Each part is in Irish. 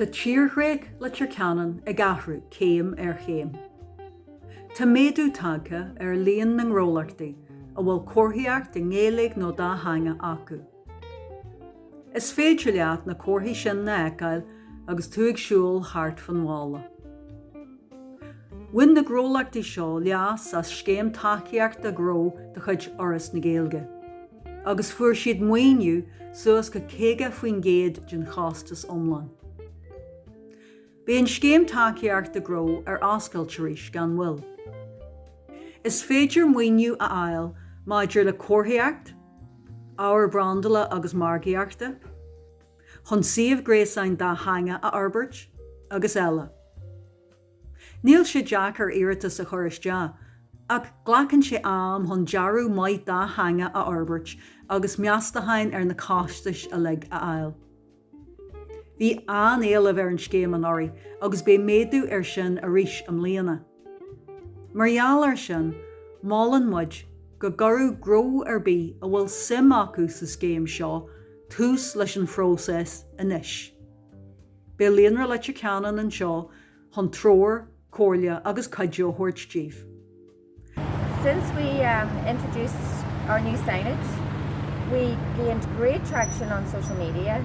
Tá tírdhreach Leitir Ceanainn ag athrú céim ar chéim. Tá méadú tagtha ar líon na ngnólachtaí a bhfuil comharthaíocht i nGaeilge nó dá theanga acu. Is féidir leat na comharthaí sin a fheiceáil agus tú ag siúl thart fán bhaile. Bhain na gnólachtaí seo leas as Scéim Tacaíochta Gnó de chuid Fhoras na Gaeilge agus fuair siad maoiniú suas go 50% den chostas iomlán. Beidh an Scéim Tacaíochta Gnó ar oscailt arís gan mhoill. Is féidir maoiniú a fháil maidir le comharthaíocht, ábhar brandála agus margaíochta, chun suíomh gréasáin dátheangach a fhorbairt, agus eile. Níl sé deacair iarratas a chur isteach, ach glacann sé am chun dearadh maith dátheangach a fhorbairt agus meastacháin ar na costais uilig a fháil. Bhí an-éileamh ar an scéim anuraidh agus beidh méadú air sin arís i mbliana. Mar gheall air sin, molann muid go gcuirfeadh gnó ar bith a bhfuil suim acu sa scéim seo tús leis an phróiseas anois. Beidh Líonra Leitir Ceanainn anseo chun treoir, comhairle agus cuidiú a thabhairt daofa. Since we introduced our new signage, we gained great traction on social media.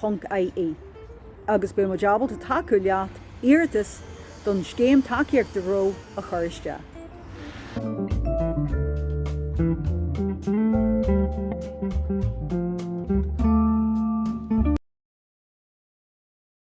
líonralc.ie agus beidh muid ábalta tacú leat iarratas don Scéim Tacaíochta Gnó a chur isteach.